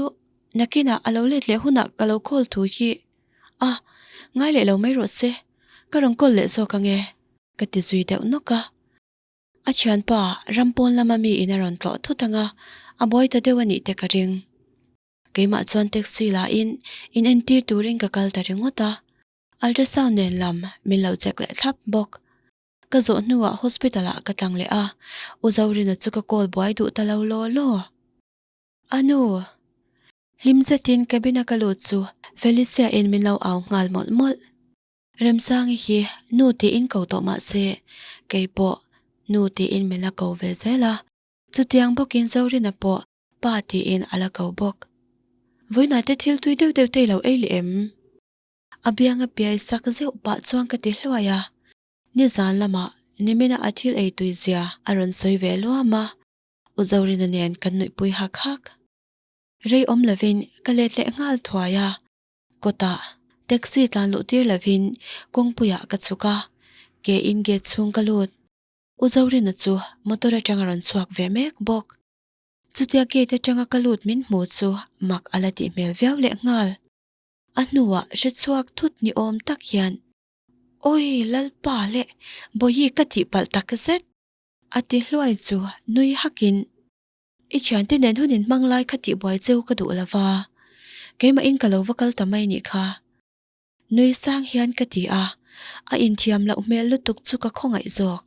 nakinah a lo let leh hunah ka lo call thu hi a, ngai leh lo mai rawh se, ka rawn call leh zawk ange, ka ti zui deuh nawk a. A thianpa ram pawn lama mi in a rawn tlawh thut ang a, a buai ta deuh a nih te ka ring. Keimah chuan taxi lah in in entir turin ka kal ta ringawt a, ultrasound nen lam min lo check leh thlap bawk. Ka zawh hnuah hospital ah ka tlang leh a, U Zorina chu ka call buai duh ta lo law law. A nu! Hlim zetin cabin a ka lut chu Felicia in min lo au nghal mawlh mawlh. Remsangi hi nu tiin ko tawh mah se, kei pawh nu tiin min la ko ve zel a, chutiang bawkin Zorina pawh pa tiin a la ko bawk. Vawiinaite thil tui deuh deuh tei lo ei le em? A bianga piai sak zeuh pah chuan ka ti hluai a, nizan lamah Nimina a thil ei tui zia a rawn sawi ve luam a, U Zorina nen kan nuih pui hak hak. Rei awm lovin ka let leh nghal thuai a, Kawtah taxi tlan luh tir lovin kawngpuiah ka chhuk a, ke in gate chhung ka lut. U Zorina chu motor atanga rawn chhuak ve mek bawk. Chutia gate atanga ka lut min hmuh chu mak a la tih hmel viau leh nghal. A hnuah hrechhuak thut ni awm tak hian, Awi Lalpa leh Bawihi ka tih palh tak zet! A ti hluai chu nui hakin I thiante nen hun in hmang lai kha tih buai cheu ka duh lo va, keimah in ka lo va kal ta mai nih kha. Nuisang hian ka ti a, a inthiam loh hmel lutuk chu ka khawngaih zawk.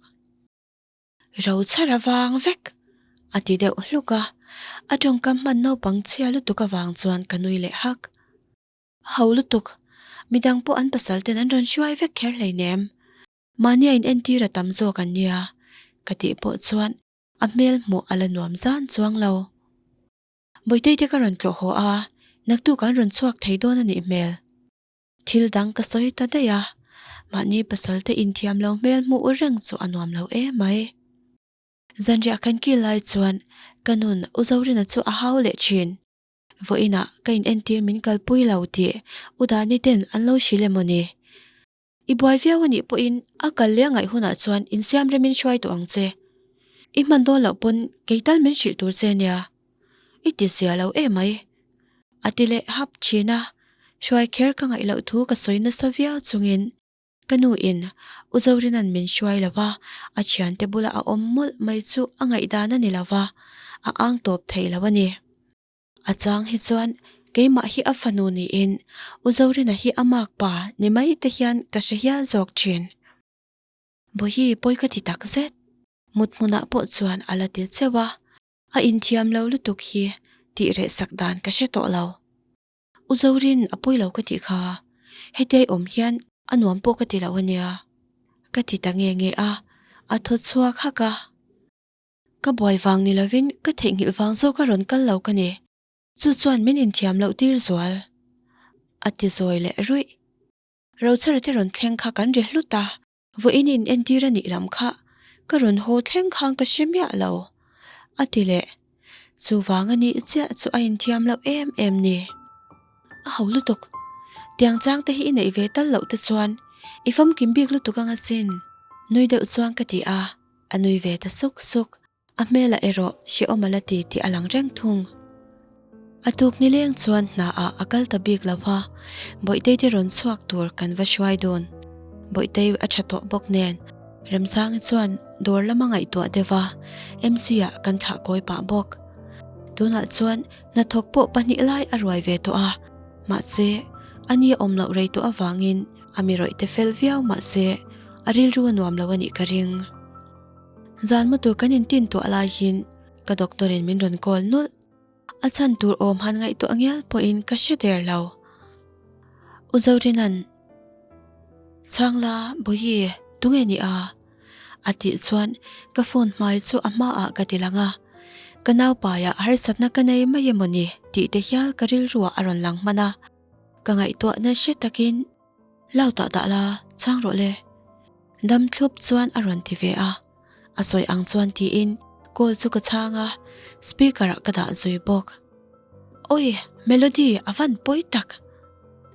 Ro chhar avang vek a ti deuh hluk a, a tawngkam hman naupang chhia lutuk avang chuan ka nui leh hak. A hauh lutuk, midang pawh an pasal ten an rawn hruai vek kher hleinem, mahnia in entir a tam zawk an nia ka tih pawh chuan A hmel hmuh a la nuam zan chuang lo. Bawihte te ka rawn tlawh haw a, naktuk an rawn chhuak thei dawn a nih hmel. Thil dang ka sawi ta daih a, mahni pasalte inthiam lo hmel hmuh u reng chu a nuam lo e mai. Zanriah kan kil lai chuan ka nun U Zorina chu a hau leh thin. Vawiinah ka in entir min kalpui lo tih U Dani ten an lo hrilh emaw ni? I buai viau anih pawhin a kal leh a ngaih hunah chuan insiam remin hruai tawh ang che. I hman dawn loh pawn kei tal min hrilh tur che nia i tihzia lo em mai. A ti leh hap thin a, hruai kher ka ngaih loh thu ka sawi nasa viau chungin ka nu in U Zorina'n min hruai lo a, a thiante bula a awm mawlh mai chu a ngaihdan a ni lo va, a ang tawp theih lo a ni. A chang hi chuan keimah hi a fanu niin U Zorina hi a mâk pa ni mai te hian ka hre hial zawk ṭhin. Bo hi pawi ka ti tak zet. Muthmunah pawh chuan a la ti cheuh a, a inthiam lo lutuk hi tih reh sak dan ka hre tawh lo. U Zorin a pawi lo ka tih kha, hetia i awm hian a nuam pawh ka ti lo a nia ka ti ta nge nge a, a thaw chhuak hak a. Ka buai vang ni lovin ka theihnghilh vang zawk a rawn kal lo ka ni. Chu chuan min inthiam loh tir zual a ti zawi leh ruih. Rochara te rawn thleng kha kan ri hlut a, vawiin in entir a nih lam kha ka rawn haw thleng khang ka hre miah lo a ti leh chuvang a nih chiah chu a inthiam loh em em ni. A hau lutuk. Tiang chang te hi i neih ve tal loh te chuan i famkim bik lutuk anga sin nui deuh chuang ka ti a. A nui ve ta suk suk. A hmelah erawh hre awm ala ti tih a lang reng thung. A tuknileng chuan hna ah a kal ta bik lo a, Bawihte te rawn chhuak tur kan va hruai dawn. Bawihte a tha tawh bawk nen Remsangi chuan dawr lama ngaihtuah deuh a, MC ah kan thlah kawi pah bawk. Tunah chuan hnathawk pawh pahnih lai a ruai ve tawh a, mahse, ani a awm loh rei tawh avangin, A mirawih te fel viau mah se, a rilru a nuam lo a nih ka ring. Zan maw tur kan intin tuah lai hin ka doctor in min rawn call nulh. A chhan tur awm han ngaihtuah ngial pawh in ka hre der lo. U Zorinan, Chhang la, Bawihi, tunge nih a? A tih chuan ka phone hmai chu a hma ah ka ti lang a. Ka naupai ah harsatna ka nei mai emaw ni tih te hial ka rilru ah a rawn lang hman a. Ka ngaihtuah nasa takin, Lau tah dah la, chang rawh le. Damthlup chuan a rawn ti ve a, a sawi ang chuan tiin call chu ka chhang a, speaker ah ka dah zui bawk. Awi, Melody a van pawi tak.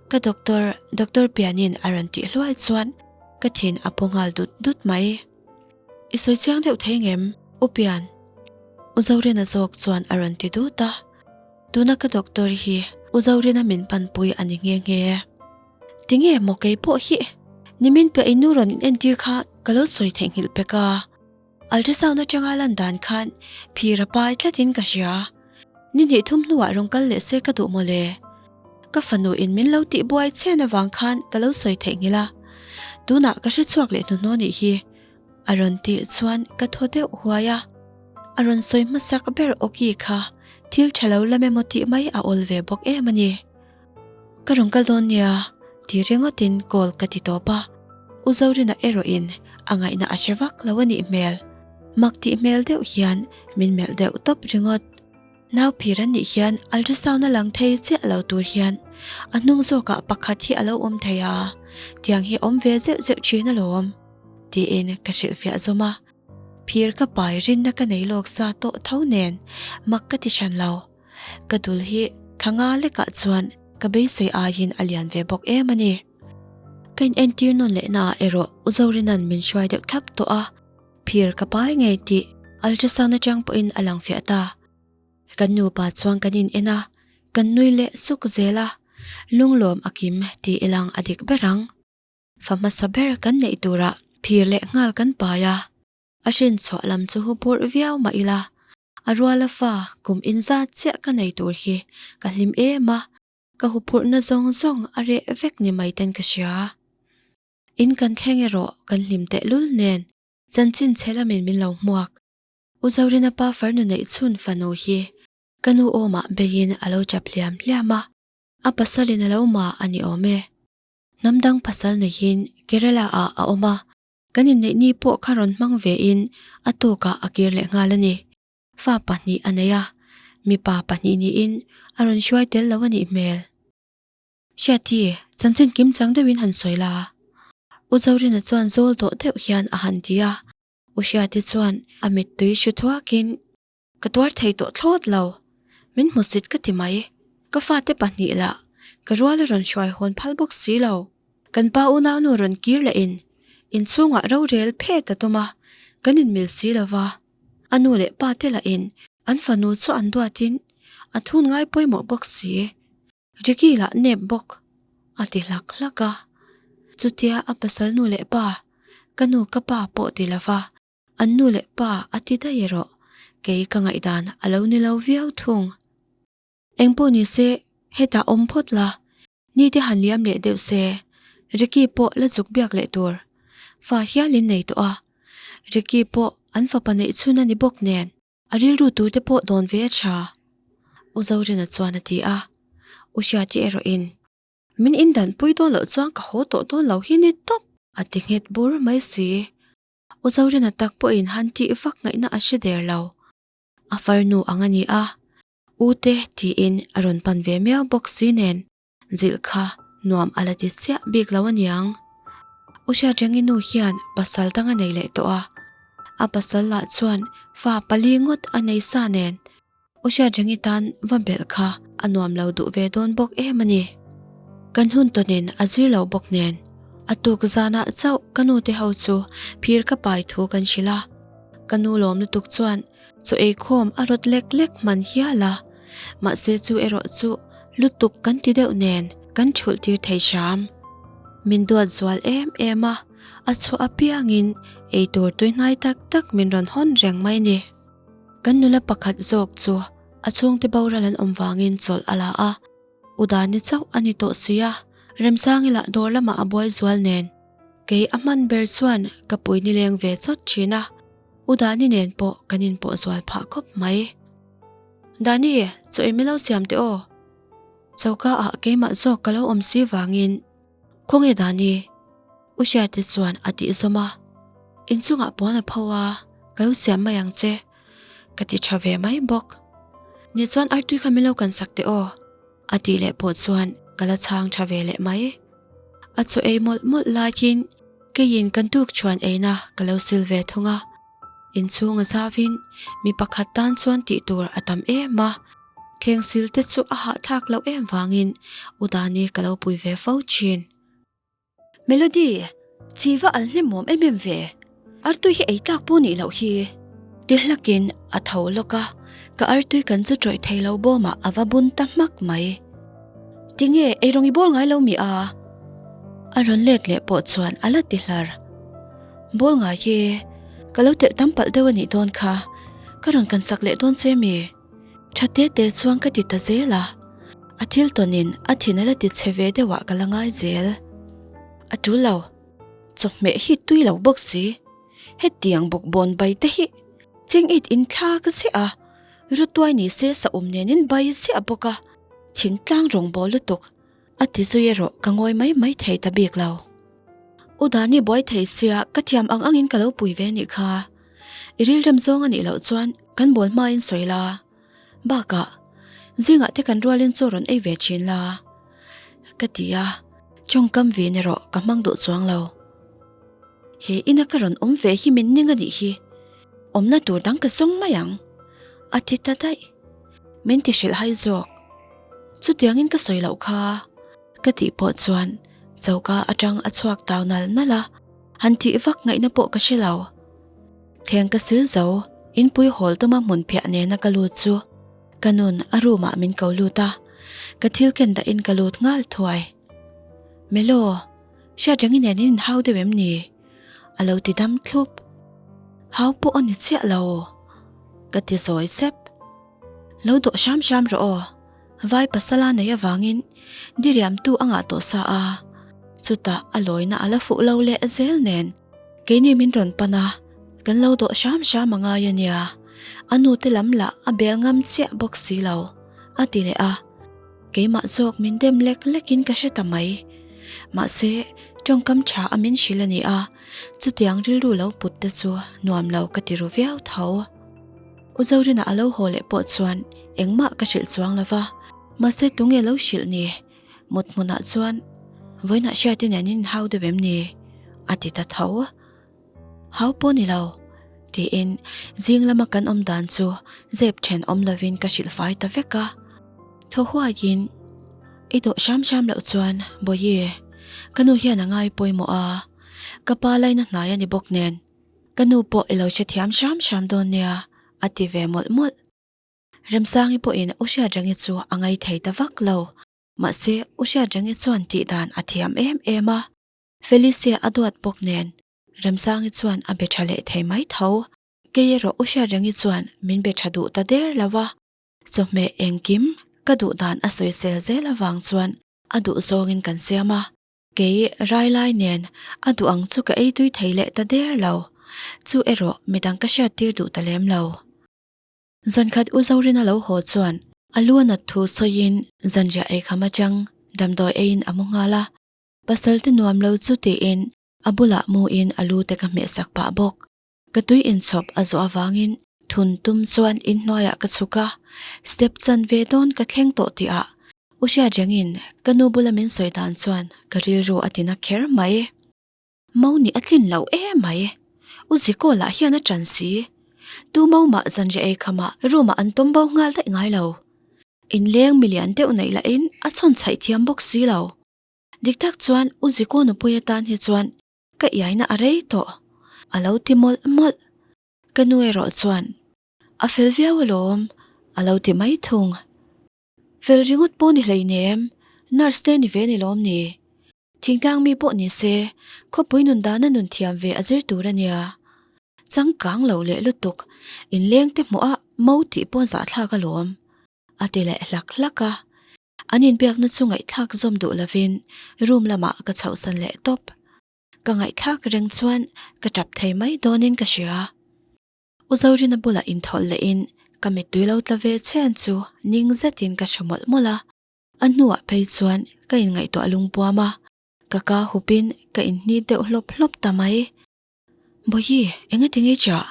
Ka doctor, Doctor Pianin a rawn tih hluai chuan ka thin a pawngal dut dut mai. I sawi chiang deuh thei ngem, U Pian. U Zorina zawk chuan a rawn ti dut a, Tuna ka doctor hi U Zorina min panpui a ni nghe nghe e. Tinge maw kei pawh hi nimin piah i nu rawn inentir kha ka lo sawi theihnghilh pek a, ultrasound atanga lan dan khan phira pai tlatin ka hria. Ni hnih thum hnuah rawn kal leh se ka duh maw le? Ka fanu in min lo tih buai chhen avang khan ka lo sawi theih nghil a, tunah ka hre chhuak leh hnu hnu nih hi. A rawn tih chuan ka thaw deuh huai a, a rawn sawi hmasak ber awki kha thil tha lo la memaw tih mai a awl ve bawk em a ni. Ka rawn kal dawn nia tih ringawtin call ka ti tawp a, U Zorina erawhin a ngaihna a hre vak lo a nih hmel. Mak tih hmel deuh hian min melh deuh tawp ringawt. Nauphir an nih hian ultrasound a lang thei chiah lo tur hian a hnung zawkah pakhat hi a lo awm thei a, tiang hi a awm ve zeuh zeuh thin alawm, tiin ka hrilh fiah zawm a. Phir ka pai rinna ka nei lawk sa tawh tho nen mak ka ti hran lo. Ka dul hi thla nga lekah chuan ka beisei aiin a lian ve bawk em a ni. Ka inentir nawn lehnaah erawh u Zorina'n min hruai deuh thlap tawh a, phir ka pai ngei tih ultrasound atang pawhin a lang fiah ta. Kan nupa chuan kan inen a, kan nui leh suk zel a, lunglawm a kim tih i lang a dik ber ang. Fa hmasa ber kan neih turah phir leh nghal kan pai a, a hrinchhuah lam chu hupurh viau mah ila. A ruala fa, kum in zat chiah ka nei tur hi ka hlim em a, ka huphurhna zawng zawng a reh vek ni mai ten ka hria. In kan thleng erawh kan hlim tehlul nen chanchin chhe lamin min lo hmuak. U Zorina pa Farnu neih chhun fanu hi ka nu awmah beiin a lo chap hliam hliam a, a pasalin a lo ma a ni awm e. Hnam dang pasal neiin Kerala-ah a awm a, Kan inneih ni pawh kha rawn hmang ve in a tawkah a kir leh nghal a ni. Fa pahnih a nei a, mipa pahnih niin a rawn hruai tel lo a nih hmel. Hriati, chanchin kim chang deuh in han sawi la. U Zorina chuan zawl dawh deuh hian a han ti a, u Hriati chuan a mittui hre thuak in. Ka tuar thei tawh thlawt lo. Min hmu sit ka ti mai. Ka fate pahnih lah ka rual a rawn hruai hawn phal bawk si lo. Kan pa unaunu rawn kir leh in inchhungah rorel phet a tum a, kan inmil si lo va. A nu leh pa te lah in an fanu chu an duat in a thun ngai pawimawh bawk si. Ricky lah nep bawk a ti hlak hlak a. Chutia a pasal nu leh pa, ka nu ka pa pawh ti lo va. An nu leh pa a ti daih erawh kei ka ngaihdan a lo ni lo viau thung. Engpawh ni se hetah awm phawt la, nite han liam leh deuh se. Ricky pawh la zuk biak leh tur fa hial in nei tawh a, Ricky pawh an fapa neih chhun a ni bawk nen a rilru tur te pawh dawn ve a tha. U Zorena chuan a ti a, U Hriatia erawh in. Min indan pui dawn loh chuan ka haw tawh dawn lo hi ni tawp! A ti nghet bur mai si. U Zorina tak pawhin han tih vak ngaihna a hre der lo. A far nu ang a ni a, U te tiin a rawn pan ve miau bawk si nen zilh kha nuam a la ti chiah bik lo a niang. U Hriatrengin nu hian pasal dang a nei leh tawh a, a pasal lah chuan fa pali ngawt a nei sa nen U Hriatreng'i tan va belh kha a nuam lo duh ve dawn bawk em a ni. Kan hun tawnin a zir lo bawk nen, a tuk zanah chauh ka nu te ho chu phir ka pai thu kan hrilh a. Ka nu lawm lutuk chuan Chaw eikhawm a rawt lek lek hman hial a, mahse chu erawh chu lutuk kan ti deuh nen kan chhulh tir thei hram. Min duat zual em em a, a chawh apiangin eitur tuihnai tak tak min rawn hawn reng mai ni. Kan nula pakhat zawk chu a chhungte boral an awm vangin chawlh a la a, U Dani chauh a ni tawh sia, Remsang ila dawr lamah a buai zual nen kei a hman ber chuan ka pui ni leng ve chawt thin a, U Dani nen pawh kan inpawh zual phah khawp mai. Dani, chaw i milo siam teh aw, choka ah keimah zawk ka lo awm si vangin. Khaw nge dan i? U Hriate chuan a tih zawm a. Inchungah puan a pho a, ka lo siam mai ang che, ka ti tha ve mai bawk. Ni chuan artui kha min lo kan sak teh aw, a tih leh pawh chuan ka la chhang tha ve leh mai. A chaw ei mawlh mawlh laiin keiin ka dukchhuan eina ka lo sil ve thung a. Inchhunga zavin mi pakhat tan chuan tih tur a tam em a, thleng sil te chu a hahthlak loh em vangin u Dani ka lo pui ve fo thin. Melody, Chiva al hnimawm em em ve. Artui hi eitlak pawh nih loh hi. Tihlakin a tho lawk a, ka artui kan chu tawih thei lo bawmah a va bun ta hmak mai. Tinge, eirawng i bawl ngai lo mi a? A rawn let leh pawh chuan a la ti hlar. Bawl ngai hi ka lo telh tam palh deuh a nih dawn kha, ka rawn kan sak leh dawn che mi? Tha te te chuan ka ti ta zel a, a thil tawn in a thin a la ti chhe ve deuh ah ka la ngai zel. A tul lo, chawhmeh hi tui lo bawk si, hetiang bawkbawn bai te hi cheng it in thla ka zia, rutuai ni se sahum nen in bai zia bawk a. Thingtlang rawngbawl lutuk a ti zui erawh ka ngawi mai mai thei ta bik lo. U Dani buai thei sia ka thiam ang angin ka lo pui ve nih kha. I rilrem zawng a nih loh chuan kan bawl hma in sawi la. Bakah zingah te kan rualin chaw rawn ei ve thin la ka ti a, chawngkam vin erawh ka hmang duh chuang lo. He ina ka rawn awm ve hi min ning a nih hi. Awmna tur dang ka zawng mai ang, a ti ta daih. Min ti hrilh hai zawk. Chutiangin ka sawi loh kha ka tih pawh chuan choka atang a chhuak tau nalh nalh a, han tih vak ngaihna pawh ka hre lo. Theng ka sil zo, in puihawl tawma hmun phiah nena ka lut chu ka nun a room ah min ko lut a, ka thil ken dahin ka lut nghal thuai. Melo, hriatreng in en in in hau deuh em ni? A lo ti dam thlup. Hau pawh a ni chiah lo, ka ti sawi sep. Lo dawh hram hram rawh aw, vai pasala neih avangin diriamtu a ngah tawh sa a, chutah a lawina a la fuh lo leh zel nen keini min rawn pan a, kan lo dawh hram hram a ngai a nia, a nute lam lah a bel ngam chiah bawk si lo, a ti leh a. Keimah zawk min dem lek lekin ka hre ta mai. Mahse, tawngkam tha a min hrilh a ni a, chutiang rilru lo put te chu nuam lo ka ti ru viau tho. U Zorina a lo haw leh pawh chuan engmah ka hrilh chuang lo va, mahse tunge lo hrilh ni? Muthmunah chuan, Vawiinah hriat in an inhau deuh em ni? a ti ta tho. Hau pawh ni lo, tiin zing lama kan awm dan chu zep then awm lovin ka hrilh fai ta vek a. Tho huaiin, I dawh hram hram loh chuan Bawihi, ka nu hian a ngai pawimawh a, ka pa laina hnai a ni bawk nen, ka nu pawh i lo hre thiam hram hram dawn nia, a ti ve mawlh mawlh. Remsangi pawhin u Hriatrangi chu a ngai thei ta vak lo, mahse u Hriatrangi chuan tih dan a thiam em em a. Felicia a duat bawk nen Remsangi chuan a be tha leh thei mai tho. Kei erawh u hriat rengi chuan min be tha duh ta der lo a, chawhmeh engkim ka duh dan a sawi sel zel avang chuan a duh zawngin kan siam a, kei rai lai nen a duh ang chu ka ei tui thei leh ta der lo. Chu erawh midang ka hriat tir duh ta lem lo. Zan khat u Zorina lo haw chuan a luanat thu sawiin zanriah ei kham atang damdawi eiin a mu nghal a, Pasalte nuam lo chu tiin a bulah mu in a lu te ka hmeh sak pah bawk. Ka tui in chhawp a zawh avangin thun tum chuan in hnuaiah ka chhuk a, step chan ve dawn ka thleng tawh tih ah u hriat reng in ka nu bula min sawi dan chuan ka rilru a ti na kher mai e. Mau nih a tlin loh e mai e, u Zikawl ah hian a tan si i tu mau mah zanriah ei kha mah room ah an tum bo nghal daih ngai lo. In leng mi lian deuh neih lah in a chhawn chhaih thiam bawk si lo. Dik tak chuan u Zikonupuii atan hi chuan ka iaina a rei tawh, a lo ti mawlh mawlh. Ka nu erawh chuan, A fel viau alawm, a lo ti mai thung. Fel ringawt pawh ni hlein em, nurse te ni ve ni lawm ni? Thingtlang mi pawh ni se, khawpui nun dana nun thiam ve a zir tur a nia. Changkang lo leh lutuk, inleng te hmuh a mau tih pawh zahthlak alawm, a ti leh hlak hlak a. An inbiakna chu ngaihthlak zawm duh lovin room lamah ka chhohsan leh tawp. Ka ngaihthlak reng chuan ka tap thei mai dawnin ka hria. U Zorina bula inthawlh lehin ka mittui lo tla ve chian chu ning zetin ka hre mawlh mawlh a. A hnuah phei chuan ka inngaihtuah lungpuam a, ka ka hupin ka inhnit deuh hlawp hlawp ta mai. Bawihi, engatinge chiah?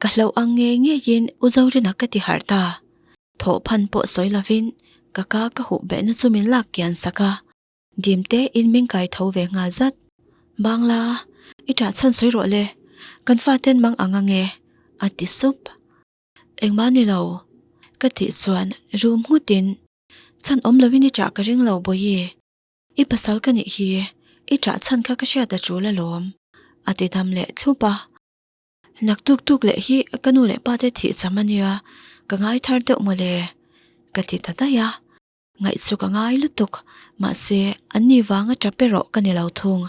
Ka hlauh ang ngei ngeiin u Zorina ka ti harh ta. Thawh phan pawh sawi lovin ka ka ka huh behna chu min lak kian sak a. Dimte in min kai tho ve nghal zat. Bangla, i ṭah chhan sawi rawh le, kan faten mang ang ange, a ti sup. Engmah ni lo, ka tih chuan rum nghutin, Chhan awm lovin i ṭah ka ring lo Bawihi, i pasal ka nih hi, i ṭah chhan kha ka hriat a ṭul alawm, a ti dam leh thlup a. Nak tuk tuk leh hi ka nu leh pa te thih cham a nia, ka ngai thar deuh maw le? ka ti ta daih a, ngaih chu ka ngai lutuk, mahse an ni vanga ta pe rawh ka ni lo thung.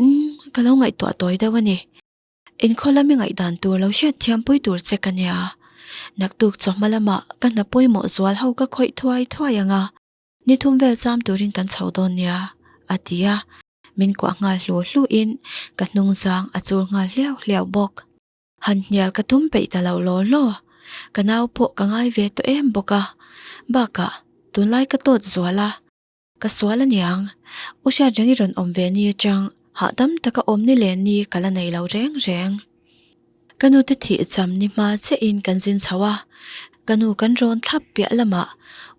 Umm, ka lo ngaihtuah tawi deuh a ni, inkhaw lam i ngaih dan tur lo hriat thiam pui tur che ka nia, nak tuk chawhma lamah ka hna pawimawh zual ho ka khawih thuai thuai ang a. Ni thum vel cham turin kan chho dawn nia, a ti a, min kuah nghal hlu hluin ka hnungzang a chur nghal hliau hliau bawk. Han hnial ka tum peih ta lo law law, ka nau pawh ka ngai ve tawh em bawk a, bakah tunlai ka tawt zual a, ka sual a niang, u hriatreng i rawn awm ve ni atang, hahdam taka awm ni len ni ka la nei lo reng reng. Ka nu te thih cham ni hma che in kan zin chho a, ka nu kan rawn thlap piah lamah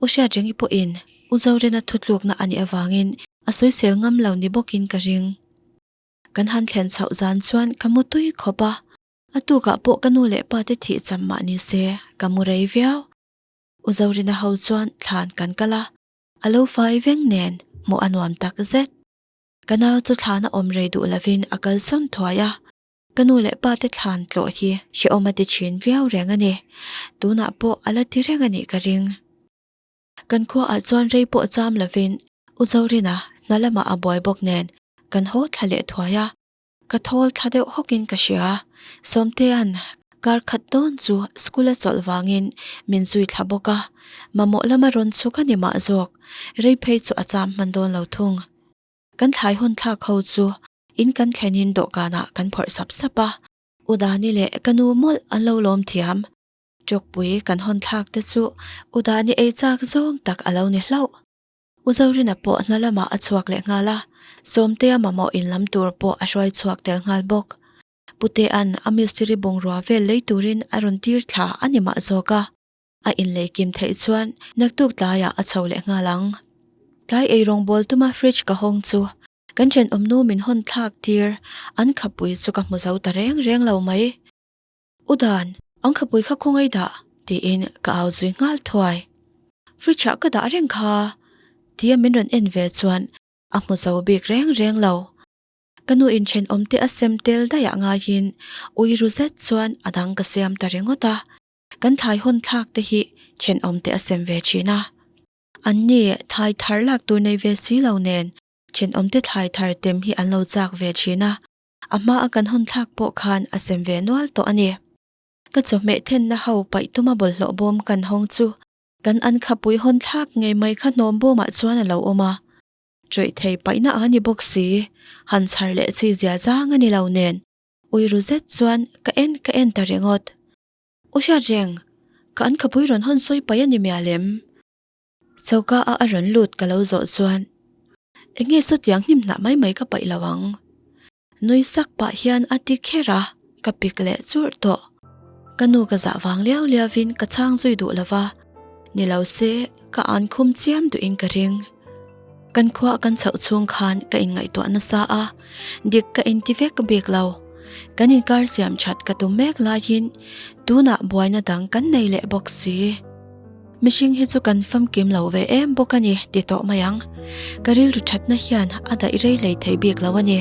U Hriatrengi pawhin U Zorena thutlukna a nih avangin a soisel ngam lo ni bawkin ka ring. Kan han thlen chhoh zan chuan ka mu tui khawp a, a tukah pawh ka nu leh pa te thih cham mah ni se ka mu rei viau. U Zorena ho chuan thlan kan kal a, a lo fai veng nen hmuh a nuam tak zet. Ka nau chu thlan a awm rei duh lovin a kal sawn thuai a. Ka nu leh pa te thlan tlawh hi hre awm a ti thin viau reng a ni. Tunah pawh a la ti reng a nih ka ring. Kan khua ah chuan rei pawh cham lo vin U Zorina hna lam ah a buai bawk nen kan haw thla leh thuai a. Ka thawl thla deuh hawk in ka hria. Sawmtea'n kar khat dawn chu school a chawlh vang in min zui thla bawk a. Mamawh lam a rawn chhuk a ni mah zawk. Rei phei chu a cham hman dawn lo thung. Kan thlai hawn thlak ho chu in kan thlenin dawhkanah kan phawrh sap sap a. U Dani leh ka nu mawlh an lo lawm thiam. Chawkpui kan hawn thlak te chu U Dani ei chak zawng tak a lo ni hlauh. U Zorina pawh hna lamah a chhuak leh nghal a, Sawmtea mamawh in lam tur pawh a hruai chhuak tel nghal bawk. Pu Tea'n a mistiri bungrua vel lei turin a rawn tir thla a ni mah zawk a, a inlei kim theih chuan naktuk tlaiah a chho leh nghal ang. Tlai ei rawngbawltuma fridge ka hawng chu Kan thenawm nu min hawn thlak tir an khapui chu ka hmu zo ta reng reng lo mai. U Dan, an khapui kha khaw ngai dah? tiin ka au zui nghal thuai. Fridge ah ka dah reng kha tia min rawn en ve chuan a hmu zo bik reng reng lo. Ka nu in thenawm te a sem tel daiah ngaiin ui ru zet chuan a dang ka siam ta ringawt a, kan thlai hawn thlak te hi thenawm te a sem ve thin a. An ni thlai thar lak tur nei ve si lo nen, thinawmte thlai thar tem hi an lo chak ve thin a. A hmaa kan hawn thlak pawh khan a sem ve nual tawh a ni. Ka chawhmeh thenna ho paih tuma bawlhhlawh bawm kan hawng chu kan an khapui hawn thlak ngei mai kha hnawm bawmah chuan a lo awm a. Chawih thei paihna a ni bawk si, han chhar leh chhi zia zang a ni lo nen, ui ru zet chuan ka en ka en ta ringawt. Aw Hriatreng, ka an khapui rawn hawn sawi paih a ni mia lem? Choka a a rawn lut ka lo zawh chuan, Eng nge saw tiang hnim hnah mai mai ka paih lo ang. Nui sak pah hian a ti kher a, ka pik leh churh tawh. Ka nu ka zah vang liau liau in ka chhang zui duh lo va. Ni lo se, ka an khum chiam duhin ka ring. Kan khua kan chauh chung khan ka in ngaihtuah nasa a, dik ka in ti vek bik lo. Kan in kar siam that ka tum mek laiin tunah buaina dang kan nei leh bawk si. Mihring hi chu kan famkim lo ve em bawk a ni ti tawh mai ang. Ka rilru thatna hian a daih rei lei thei bik lo a ni.